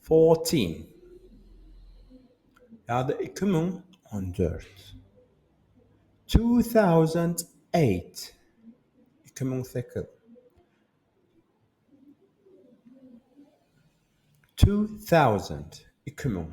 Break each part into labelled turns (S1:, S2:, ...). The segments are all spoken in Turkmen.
S1: Fourteen. Ýa-da iki müň on dört. Two thousand eight. Iki müň sekiz. Two thousand. Iki müň.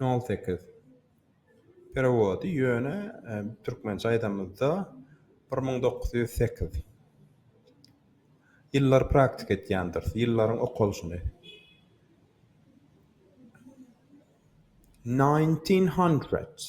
S1: Nol sekiz. Perewody ýöne türkmençe aýdamyzda bir müň dokuz ýüz sekiz. Ýyllar praktika etýändiris. Ýyllaryň okalyşyny. Nineteen hundred.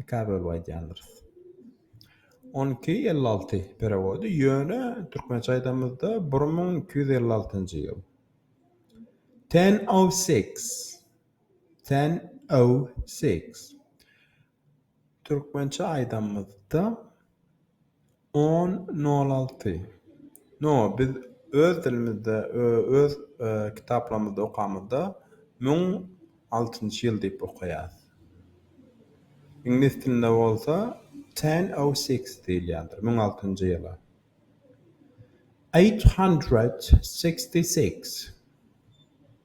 S1: Ikä bölüp aýdýandyrys. On iki elli alty perewody, ýöne türkmençe aýdamyzda bir müň iki ýüz elli altynjy ýyl. Ten o six. Ten o six. Türkmençe aýdamyzda On nol alty No biz öz dilimizde öz kitaplarymyzda okamyzda müň altynjy ýyl diýip okaýas. Iňlis dilinde bolsa ten o six diýilýändir müň altynjy ýyla. Eight hundred sixty six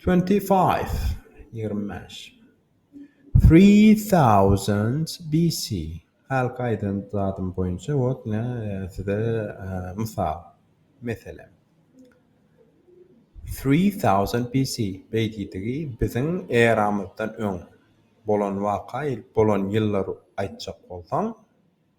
S1: Twenty five, ýigrimi bäş. Three thousand BC, hälki aýdan zadym boýunça wot ine size mysal, meselem. Three thousand BC, beýdidigi biziň eramyzdan öň bolan waka, bolan ýyllary aýtjak bolsaň,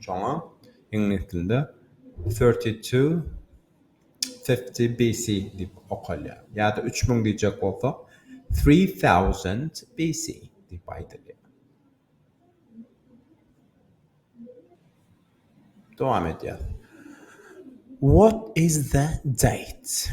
S1: Şoňa iňlis dilinde thirty two fifty BC diýip okalýar. Ýa-da üç müň diýjek bolsak, three thousand BC diýip aýdylýar. Dowam edýäris. What is the date?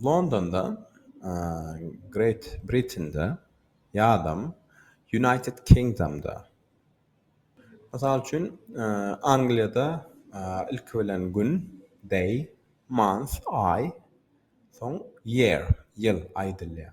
S1: Londonda, Great Britain'de ýadam United Kingdom'da. Mysal üçin, Angliýada ilki bilen gün, day, month, aý, soň year, ýyl, aýdylýar.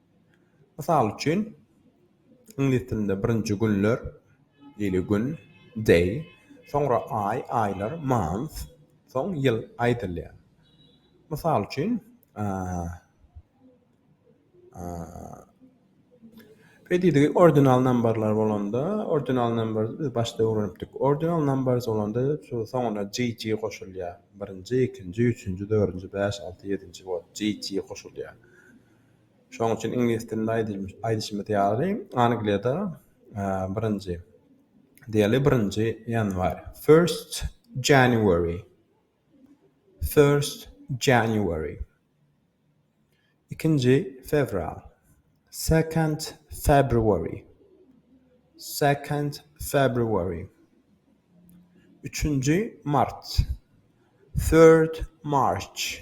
S1: Mysal üçin, iňlis dilinde birinji günler, ýyly gün, day, soňra aý, aýlar, month, soň ýyl aýdylýar. Mysal üçin, Predidigi ordinal nambarlar bolanda, ordinal numbers, biz başda öwrenipdik. Ordinal numbers bolanda şu soňuna GG goşulýar. Birinji, ikinji, üçünji, dördünji, bäş, alty, ýedinji, ol GG goşulýar. Şonuň üçin iňlis dilinde aýdylmyş aýdyşymyz ýaly, Angliýada, birinji, diýeli, birinji ýanwar, first January, first January, ikinji fewral, second February, second February, üçünji mart, third March,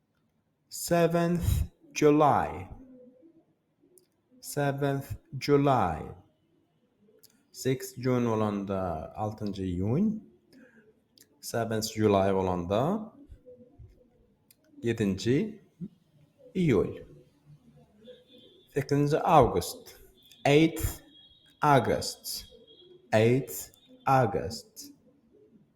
S1: Seventh July Seventh July Six June bolanda altynjy iýun Seventh July bolanda ýedinji iýul Sekizinji awgust Eighth August Eighth August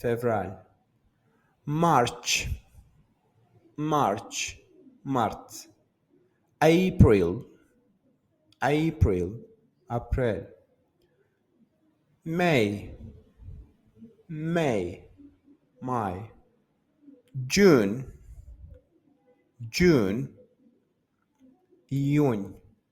S1: Fewral. March. March, mart. April. April, aprel. May. May, maý. June. June, iýun.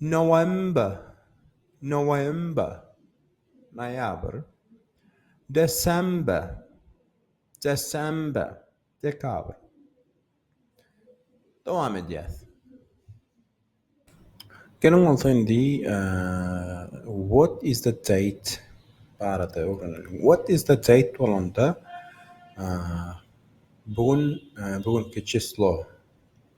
S1: November, November, noýabr. December, December, dekabr. Dowam edýäs. Geliň bolsa indi what is the date barada öwreneliň. What is the date bolanda bu gün, bu günki çislo.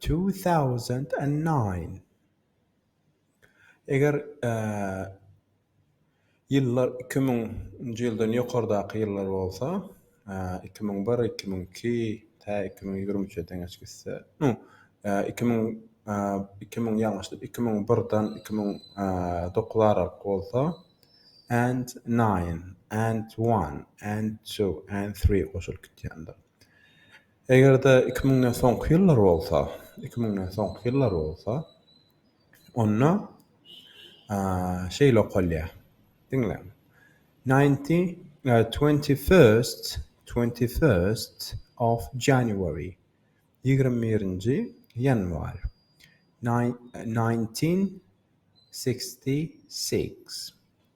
S1: Two thousand and nine Eger ýyllar iki müň nji ýyldan ýokardaky ýyllar bolsa, iki müň bir, iki müň iki, tä iki müň ýigrimi üçe deň hiç gitse, no, iki müň, iki müň ýalňyşdyr, iki müň birden iki müň dokuz aralyk bolsa, and nine, and one, and two, and three goşulyp gitýändir. Eger-de iki müňden soňky ýyllar bolsa, iki müňden soňky ýyllar bolsa, onda şeýle okalýar, diňläň, Ninety, twenty-first, twenty-first of January, ýigrimi birinji ýanwar, nineteen sixty six.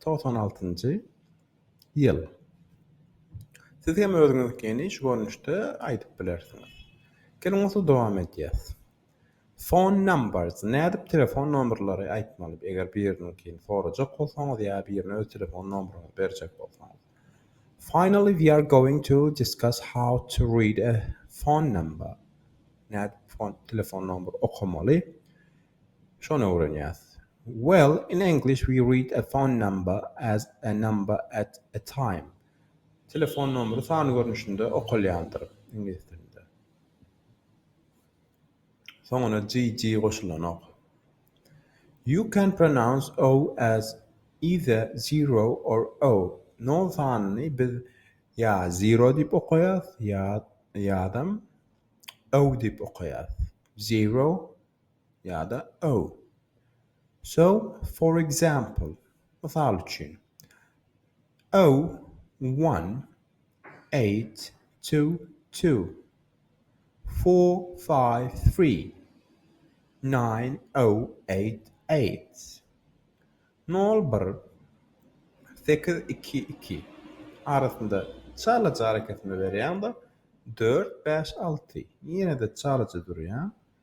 S1: Togsan altynjy ýyl. Siz hem özüňizkini şu görnüşde aýdyp bilersiňiz. Geliň bolsa dowam edýäs. Phone numbers, nädip telefon nomerleri aýtmaly, eger biriniňkini sorajak bolsaňyz ýa birine öz telefon nomeryňyzy berjek bolsaňyz. Finally we are going to discuss how to read a phone number, nädip telefon nomeri okamaly. Şony öwrenýäs. Well, in English we read a phone number as a number at a time. Telefon nomeri san görnüşinde okalýandyr, iňlis dilinde. Soňuna GG goşulanok. You can pronounce o as either zero or o. Nol sanyny biz ýa zero diýip okaýas, ýa, ýadam, o diýip okaýas. Zero, ýa-da o. So, for example, mysal üçin, O, one, eight, two, two, four, five, three, nine, o, eight, eight, nol, bir, sekiz, iki, iki, arasynda çalaja arakesme berýäň-de, dört, bäş, alty, ýene-de çalaja durýaň.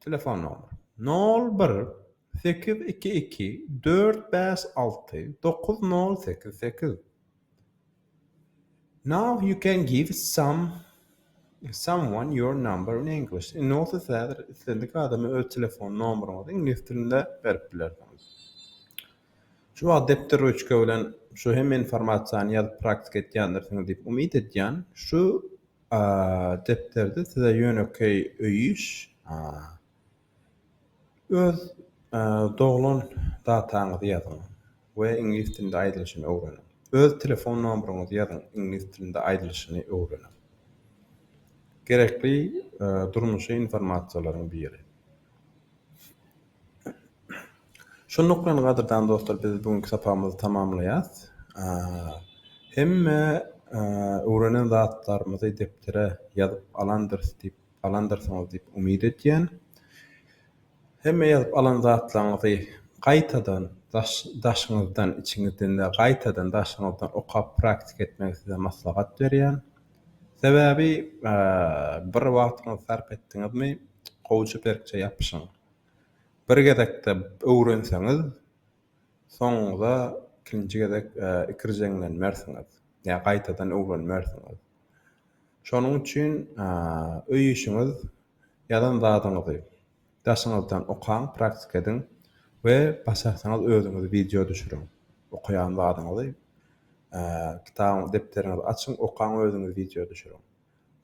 S1: Telefon nomeri. Nol bir sekiz iki iki dört bäş alty dokuz nol sekiz sekiz Now you can give some someone your number in English. Indi bolsa siz häzir islendik adama öz telefon nomeryňyzy iňlis dilinde berip bilersiňiz. Şu wagt depder rüçka bilen şu hemme informasiýany ýazyp praktika etýändirsiňiz diýip umyt edýän. Şu Depderde size ýönekeý öý iş. Öz doglan dataňyzy ýazyň we iňlis dilinde aýdylyşyny öwreniň. Öz telefon nomeryňyzy ýazyň, iňlis dilinde aýdylyşyny öwreniň. Gerekli durmuşy informasiýalaryň biri. Şonluk bilen gadyrdan dostlar biz bu günki sapagymyzy tamamlaýas. Hemme öwrenen zatlarymyzy depdere ýazyp alandyrys diýip alandyrsyňyz diýip umyt edýän. Hemme ýazyp alan zatlaryňyzy gaýtadan daşyňyzdan içiňizden däl gaýtadan daşyňyzdan okap praktik etmegi size maslahat berýän. Sebäbi bir wagtyňyzy sarp etdiňizmi gowja berkje ýapyşyň. bir gezekde öwrenseňiz soňuňda ikinji gezek ikirjeňlenmersiňiz ýa gaýtadan öwrenmersiňiz. Şonuň üçin öý işiňiz ýazan zadyňyzy daşyňyzdan okaň praktika ediň we başarsaňyz özüňiz wideo düşüriň okaýan zadyňyzy kitabyňyzy depderiňizi açyň okaň özüňiz wideo düşüriň.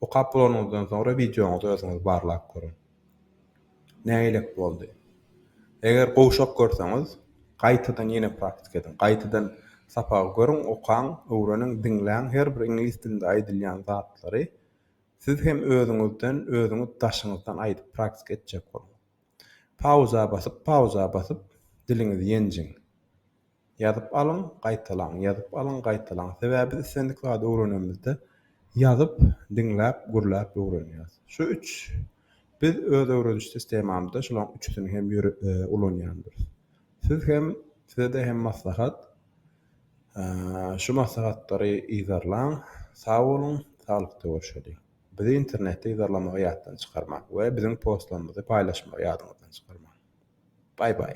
S1: Okap bolanyňyzdan soňra wideoňyzy özüňiz barlap görüň. Nägilek boldy? Eger gowşak görseňiz, gaýtadan ýene praktika ediň. Gaýtadan sapagy görüň, okaň, öwreniň, diňläň, her bir iňlis dilinde aýdylýan zatlary siz hem özüňizden, özüňiz daşyňyzdan aýdyp praktika etjek boluň. Pauza basyp, pauza basyp diliňizi ýenjiň. Ýazyp alyň, gaýtalaň, ýazyp alyň, gaýtalaň. Sebäbi biz islendik zady öwrenemizde ýazyp, diňläp, gürläp öwrenýäris. Şu üç biz öz öwrediş sistemamyzda şolaň üçüsini hem ulanýandyrys. Siz hem size-de hem maslahat. Şu maslahatlary yzarlaň. Sag boluň, saglykda görşeliň. Bizi internetde yzarlamagy ýatdan çykarmaň we biziň postlarymyzy paýlaşmagy ýadyňyzdan çykarmaň. Baý-baý.